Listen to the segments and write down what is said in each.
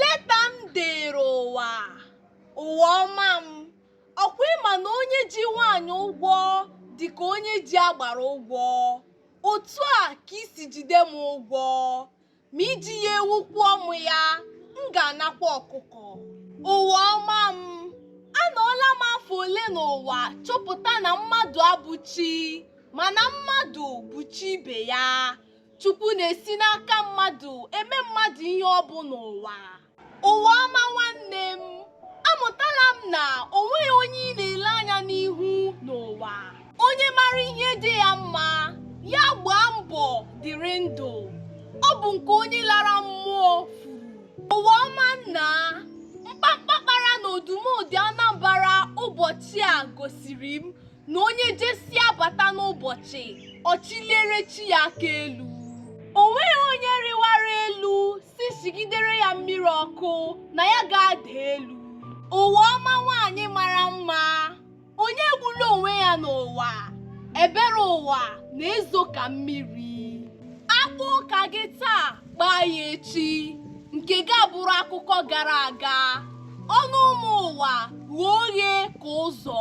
leta m deere ụwa ụwa ọma m ọ kwa ị ma na onye ji nwaanyị ụgwọ dị ka onye ji agbara ụgwọ otu a ka i si jide m ụgwọ ma i ji ya ewu kwụọ m ya m ga-anakwa ọkụkọ ụwa ọma m anọọla m afọ ole n'ụwa chọpụta na mmadụ abụ chi mana mmadụ bụ chi ibe ya Chukwu na-esi n'aka mmadụ eme mmadụ ihe ọ bụ n'ụwa. Ụwa ọma nwanne m, amụtala m na o nweghị onye ị na-ele anya n'ihu n'ụwa. Onye mara ihe dị ya mma, ya gbaa mbọ dịrị ndụ. Ọ bụ nke onye lara mmụọ furu. Ụwa ọma nna, mkpamkpa kpara n'Odumodu Anambra ụbọchị a gosiri m na onye jesịa bata n'ụbọchị ọ chịliere chi ya aka elu o nweghị onye rịwara elu sị sigidere ya mmiri ọkụ na ya ga-ada elu ụwa ọma nwaanyị mara mma onye egbula onwe ya n'ụwa ebere ụwa na-ezo ka mmiri a kpụ ụka gị taa gbaa ya echi nke gị abụrụ akụkọ gara aga ọnụ ụmụ ụwa ghe oghe ka ụzọ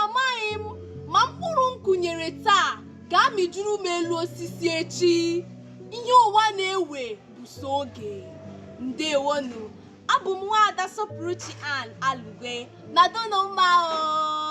Amaghị m ma mkpụrụ m kụnyere taa ga-amịjuru m elu osisi echi. Ihe ụwa na-ewe bụ sọ oge. Ndewonụ, abụ m nwaada Sọpụrụchi Ann Alugwe nọdụnụ mma o.